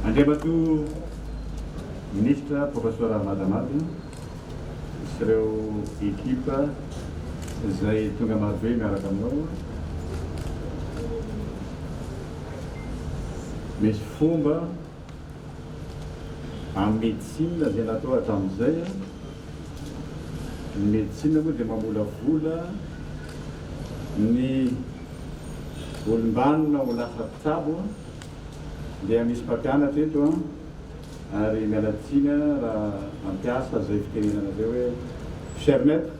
Andriamatoa Minisitra Professor Ramadhamadina sy ireo ekipa izay tonga marobe miaraka aminao. Misy fomba. Amin'ny médecine izay natao hatramin'izay, ny médecine moa dia mamolavola ny olom-banona ho lasa mpitsabo dia misy mpampianatra eto an, ary miala tsiny an raha mampiasa izay fitenenana izay hoe cher maître.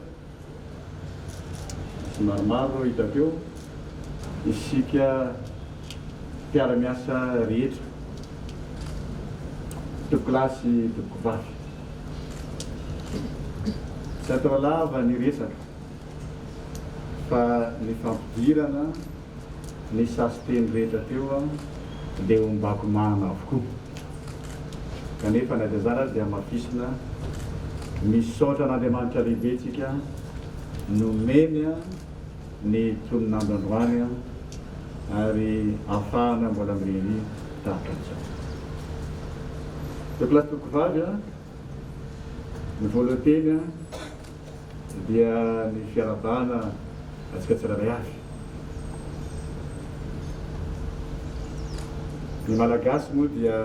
Tsy maromaro no hita teo, isika mpiara-miasa rehetra, mpitokolahy sy mpitokovavy. Tsy atao lava ny resaka fa ny fampidirana. ny sasiteny rehetra teo dia ho mbakomahana avokoa. Kanefa na dia izany aza dia hamafisina, misaotra an'Andriamanitra lehibe isika nomeny ny tonon'andro androany ary afahana mbola mirehirehina tahaka an'izao. Toky lahy sy toky vavy a, ny voalohan-teny a. dia ny fiarahabana antsika tsirairay avy. Ny Malagasy moa dia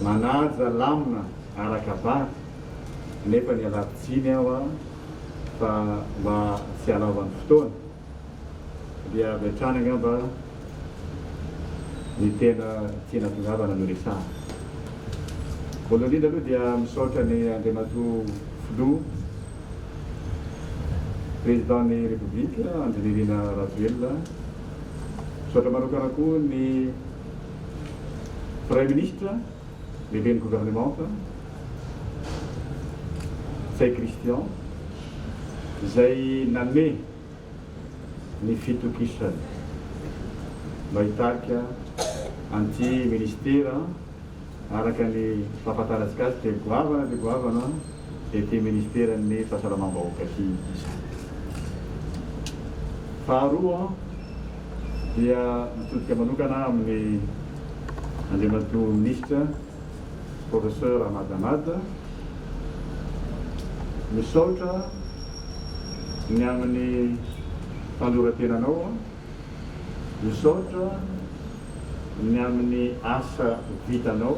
manaja lamina araka vady nefa nialako tsiny aho fa mba tsy halaovan'ny fotoana Dia avy hatrany angamba ny tena tiana tongavana no resahana. Voalohany indrindra aloha dia misaotra an' Andriamatoa Filoha Président ny République Andry Nirina Rajoelina. Misaotra manokana koa ny Praiminisitra. Lehiben'ny governemanta, Ntsay Christian, izay nanome ny fitokisany mba hitarika an'ity minisitera araka ny fahafantarantsika azy dia goavana dia goavana. izay te ministeran'ny fahasalamam-bahoaka sy izany. Faharoa dia mitodika manokana aho amin'ny Andriamatoa Minisitra Professeur Ahmad Ahmad, misaotra ny amin'ny fandoroatenanao. Misaotra ny amin'ny asa vitanao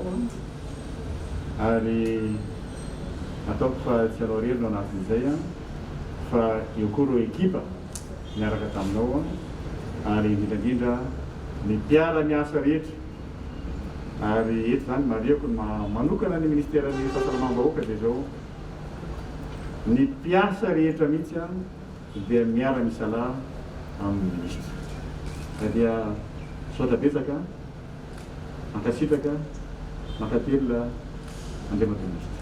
ary ataoko fa tsy ianao irery no anatin'izay fa eo koa ireo ekipa niaraka taminao ary indrindra indrindra ny mpiara-miasa rehetra ary eto izany marihako ny maha manokana ny Ministeran'ny Fahasalamam-bahoaka dia izao ny mpiasa rehetra mihitsy dia miara misalahy aminy ministra ka dia misaotra betsaka mankasitraka mankatelina Andriamatoa ministra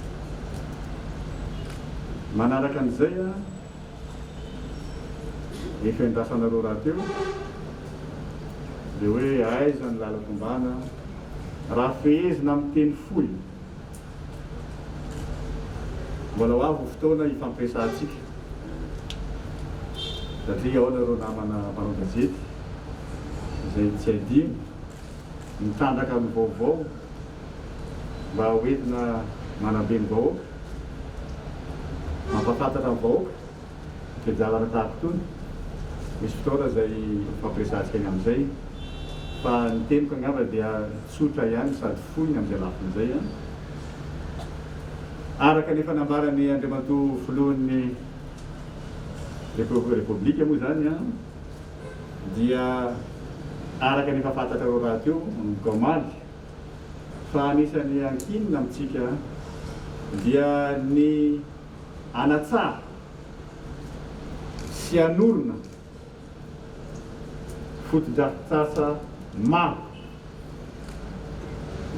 manaraka an'izay a ny fiandrasanareo rahateo dia hoe aiza ny lalan-tombana raha fehezina amin'ny teny fohy Mbola ho avy ny fotoana hifampiresahantsika satria ao nareo namana mpanao gazety izay tsy adino mitandraka ny vaovao mba ho entina manabe ny vahoaka, mampafantatra ny vahoaka izay jalana tahaka itony. Misy fotoana izay hifampiresahantsika ny amin'izay fa ny teniko angamba dia. Tsotra ihany sady fohy ny amin'ny lafiny izay an! Araka ny efa nambaran'i Andriamatoa Filohan'ny Repoblika moa izany an, dia araka ny efa fantatrareo rahateo manomboka omaly fa anisan'ny ankinina amintsika dia ny hanatsara sy hanorina fotodrafitrasa maro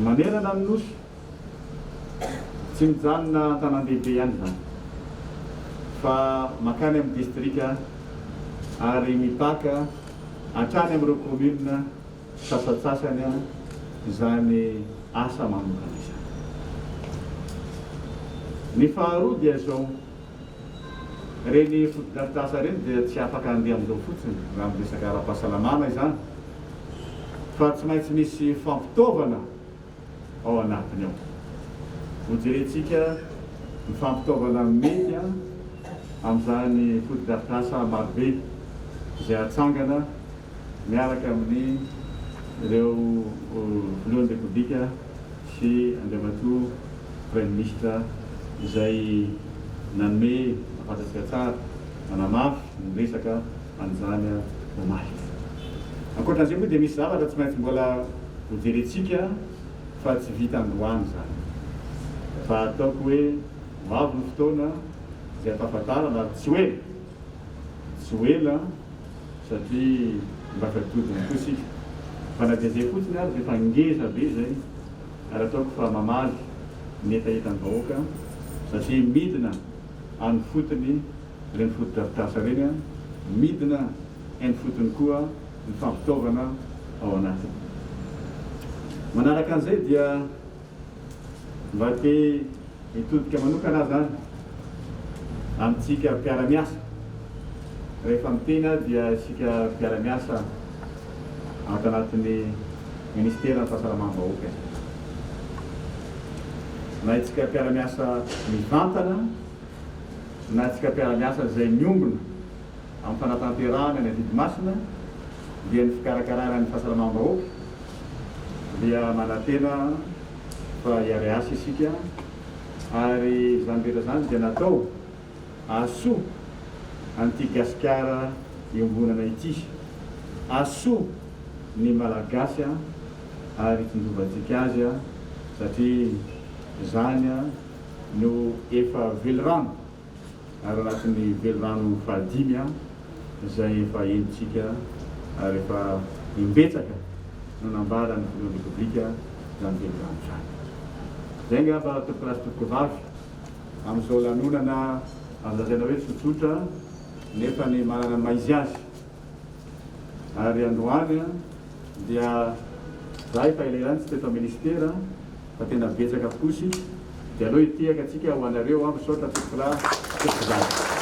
manerana ny Nosy, tsy mijanona an-tanàn-dehibe ihany izany fa mankany amin'ny distrika ary mipaka hatrany amin'ireo kaominina sasantsasany izany asa manokana izany. Ny faharoa dia izao. Ireny fotodrafitrasa ireny dia tsy afaka handeha amin'izao fotsiny raha amin'ny resaka ara-pahasalamana izany fa tsy maintsy misy fampitaovana ao anatiny ao. Hojerentsika ny fampitaovana mety amin'izany fotodrafitrasa marobe izay hatsangana miaraka amin'ireo Filohan'ny Repoblika sy Andriamatoa Praiminisitra izay nanome fantatsika tsara, nanamafy ny resaka an'izany omaly. Ankoatra an'izay moa dia misy zavatra tsy maintsy mbola hojerentsika fa tsy vita androany izany. Fa ataoko hoe ho avy ny fotoana izay hampahafantarana ary tsy ho ela, tsy ho ela satria mba taditodiny koa isika fa na dia izay fotsiny ary dia efa ngeza be izay ary ataoko fa mamaly ny hetaheta ny vahoaka satria midina any fotony ireny fotodrafitrasa ireny an, midina any fotony koa ny fampitaovana ao anatiny. Manaraka an'izay dia. Mba te hitodika manokana aza any amintsika mpiara-miasa. Rehefa miteny aho dia isika mpiara-miasa ato anatin'ny Ministeran'ny Fahasalamam-bahoaka izay. Na isika mpiara-miasa mivantana na isika mpiara-miasa izay miombona amin'ny fanatanterahana ny adidy masina dia ny fikarakarana ny fahasalamam-bahoaka dia manantena fa hiary asa isika ary izany rehetra izany dia natao ahasoa an'ity Gasikara iombonana ity, ahasoa ny Malagasy ary hitsinjovantsika azy satria izany no efa velirano. Araraky ny velirano fahadimy an, izay efa henontsika ary efa imbetsaka no nambaran'ny Filohan'ny Repoblika izany velirano izany. Izay angamba tompokolahy sy tompokovavy amin'izao lanonana azo lazaina hoe tsotsotra nefa ny manana ny maha izy azy Ary androany dia za efa elaela tsy teto ministera fa tena betsaka tokoa isika dia aleo hitehaka atsika ho anareo aho misaotra tompokolahy tompokozaza.